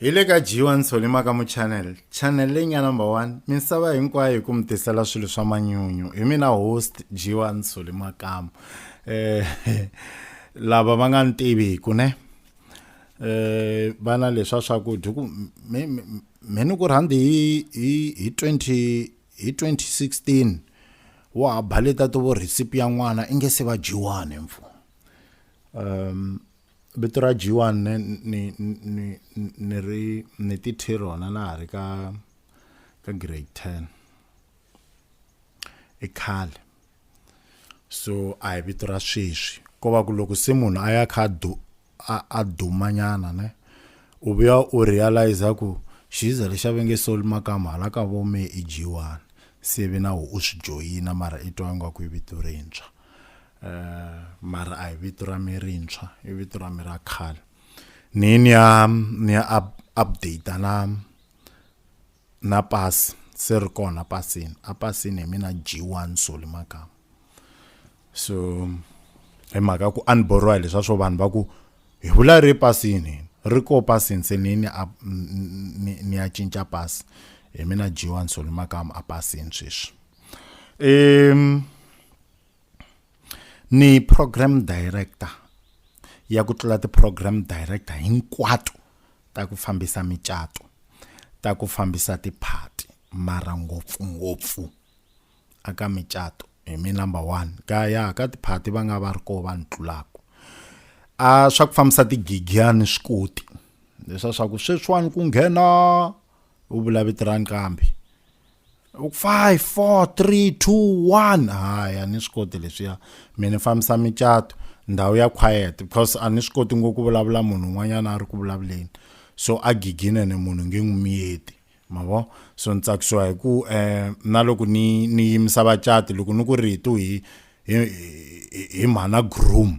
hi le ka jiwa nsolima ka muchannel channel leyi nga number one misava hinkwayo hi ku mi tisela swilo swa manyunyu hi mina host jiwa nsolima kamu eh lava va nga ni tiviku ne eh vana leswa swakudya ku me me ni ku rhandi hi hi hi 20 hi 2016 wa ha baleta to vo recipe ya n'wana i nge se va jiwani mfu um vito ra G1 ni ni ni ni ri ni ti thi rona na ha ri ka ka grade 10 i khale so a hi vito ra sweswi ko va ku loko se munhu a ya kha du a dumanyana ne u vuya u realize ku xiza lexi a ve nge soli makama hala ka vome i G1 se ve na u swi joyina mara i twa ingaku i vito rintshwa eh mara a hi vito ra mi rintshwa i vito ra mi ra khale ni ni ya ni ya up, update na na pass se ri kona pasini a pasini hi mina G1 Soli Magama so hi mhaka ku a ni borwa hi leswa swo vanhu va ku hi vula ri pasini ri ko pasini se ni ni ya cinca pasi hi mina G1 Soli Magama a pasini sweswi um ni program director ya ku tlula ti-program director hinkwato ta ku fambisa micato ta ku fambisa tiphati mara ngopfungopfu aka micato hi mi number one ka ya ka tiphati va nga va ri koho va ni tlulaka a swa ku fambisa tigigiyani swi koti leswa swa ku sweswiwani ku nghena u vula vito ra nqambi five four three two one hayi a ni swi koti leswiya mi ni fambisa micato ndhawu ya quiet because a ni swi koti ngopfu ku vulavula munhu un'wanyana a ri ku vulavuleni so a gigine ni munhu nge n'wi miyeti ma vo so ni tsakisiwa hi ku um na loko ni ni yimisa vacati loko ni ku ritu hi hi hi mhana groom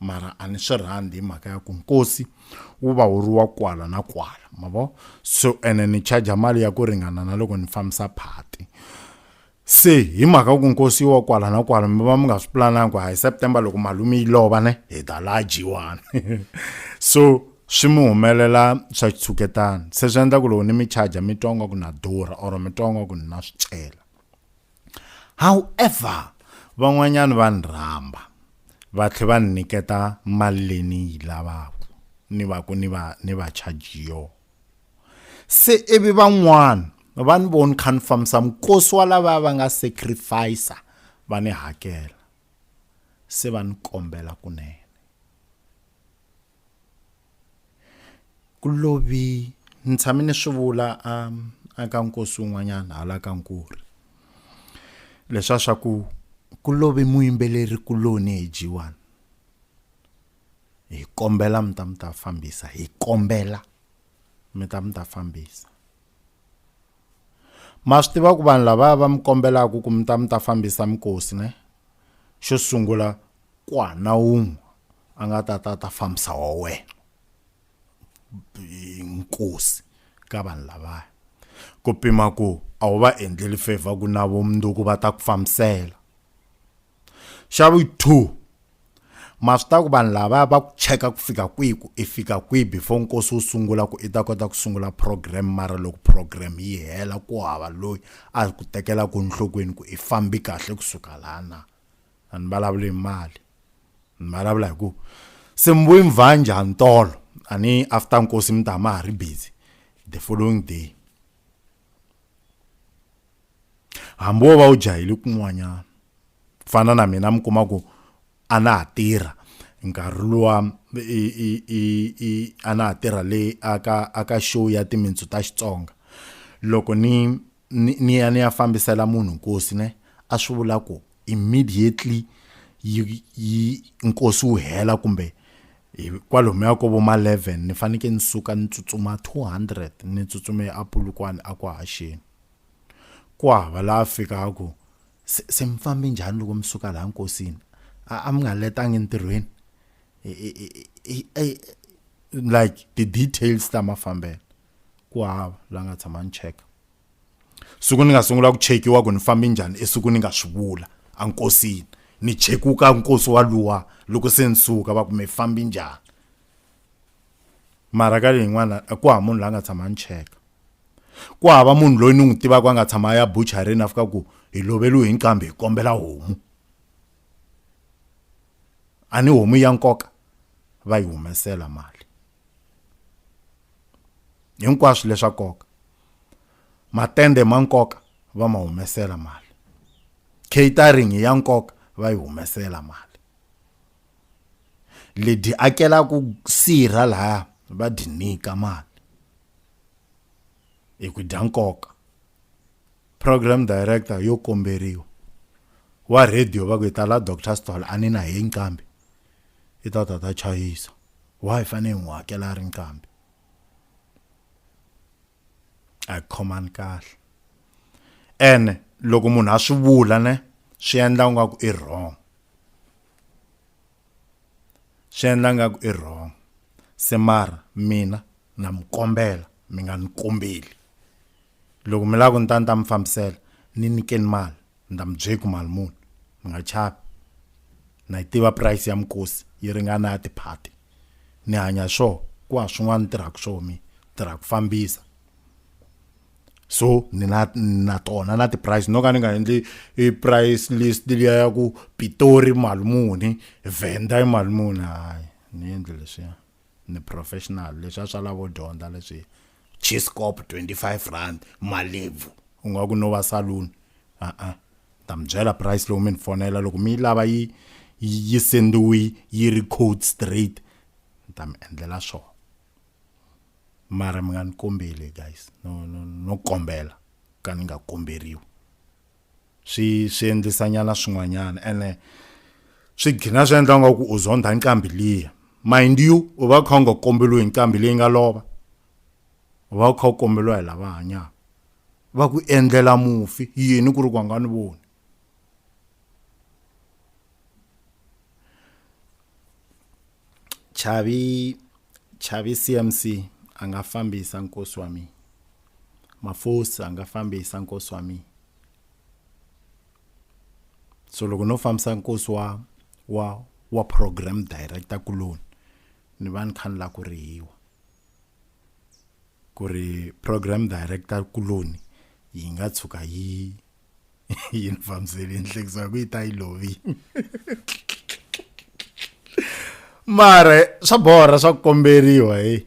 mara a ni swi rhandi hi mhaka ya ku nkosi wu va wu ri wa kwala na kwala ma vo so ene ni charger mali ya ku ringana na loko ni fambisa phati se hi mhaka ku nkosi wa kwala na kwala mi va mi nga swi pulananga ku hi september loko malume yi lova ne hi ta laha jiwani so swi mi humelela swa xitshuketana se swi endla ku loko ni mi charger mi twa nga ku na durha or mi twa nga ku ni na swi cela however van'wanyana va ni rhamba va tlhe va ni nyiketa mali leyi ni yi lavaka ni va ku ni va ni va charge yo se ivi van'wana va ni voni kha ni fambisa minkosi wa lava va nga sacrifice va ni hakela se va ni kombela kunene ku lovi ni tshame ni swi vula a ka nkosi wun'wanyana hala ka nkuri leswa swa ku ku lovi muyimbeleri kuloni hi jiwani hi kombela mi ta mi ta fambisa hi kombela mi ta mi ta fambisa ma swi tiva ku vanhu lava va mi kombelaka ku mi ta mi ta fambisa mikosi ne xo sungula Ku ha na un'we a nga ta ta ta fambisa wa wena nkosi ka vanhu lavaya ku pima ku a wu va endleli favor ku na vumundzuku va ta ku fambisela xa vu two ma swi ta ku vanhu lavaya va ku cheka ku fika kwihi ku i fika kwihi before nkosi wu sungula ku i ta kota ku sungula program mara loko program yi hela ku hava loyi a ku tekelaku enhlokweni ku i fambi kahle kusuka laha na a ni vulavuli hi mali ni vulavula hi ku se mbuyi mvanje ha ntolo a ni after nkosi mi ta ma ha ri busy the following day hambi wo va u jahile kun'wanyana ku fana na mina mi kuma ku a na ha tirha nkarhi luwa a na ha tirha le aka aka show ya timintsu ta xitsonga loko ni ni ya ni ya fambisela munhu nkosi ne a swi vula ku immediately yi yi nkosi wu hela kumbe kwalomu ya ko vo ma 11 ni fanekele ni suka ni tsutsuma 200 ni tsutsume eApulukwane a kwa haxeni ku hava laha fikaka ku se mi fambe njhani loko mi suka laha nkosini a mi nga letangi entirhweni like ti-details ta mafambelo Ku hava la nga tshama ni cheka. Siku ni nga sungula ku chekiwa ku ni fambi njhani i siku ni nga swi vula a nkosini ni chekuka nkosi wa luwa loko se ni suka va ku mi fambi njhani mara ka leyin'wana a ku hava munhu la nga tshama ni cheka ku hava munhu loyi ni n'wi tivaka a nga tshama ya buchareni a fika ku hi loveliwe hi nqambi hi kombela homu a ni homu ya nkoka va yi humesela mali hinkwaswo leswa nkoka matende ma nkoka va ma humesela mali catering ya nkoka va yi humesela mali ledi akelaka sirha laha va dyi nyika mali hi ku dya nkoka program director yo komberiwa wa radio va ku hi ta la doctor stall a ni na hi nqambi I ta ta ta chayisa. Why hi fanele hi n'wi hakela a ri nqambi? A hi khomani kahle. Ene loko munhu a swi vula ne swi endla ingaku i wrong. Swi endla ingaku i wrong. Se mara mina na mi kombela mi nga ni kombeli. Loko mi lava ku ni ta ni ta mi fambisela ni nyikeni mali. Ndza mi bye ku mali muni mi nga chavi na yi tiva price ya mikosi yi ringana ya tiphati ni hanya swo ku ha swin'wana ni tirhaka swo mi tirha ku fambisa so ni na na tona na ti-price no ka ni nga endli i price list liya ya ku pitori mali muni vhenda i mali muni hayi ni endli leswiya ni professional leswi a swa lavo dyondza leswi chiscop 25 rand malebvu u nga ku no va saloon a a ta mi byela price lowu mi ni fonela loko mi yi lava yi yi sendiwi yi ri code straight ni ta mi endlela swona mara mi nga ni kombeli guys no no no kombela ka ni nga komberiwi swi swi endlisa nyana swin'wanyana ene swi gina swi endla nga ku u zondha nqambi liya mind you u va kha u nga kombeliwi nqambi leyi nga lova u va kha u kombeliwa hi lava hanyaka va ku endlela mufi yini ku ri ku nga ni voni chavi chavi cmc a nga fambisa nkosi wa mina mafosi a nga fambisa nkosi wa mina so loko no fambisa nkosi wa wa wa program director kuloni ni va ni kha ni la ku rihiwa ku ri program director kuloni yi nga tshuka yi yi ni fambiseli nhlekiso ya ku yi ta yi lovi mara swa borha swa ku komberiwa hi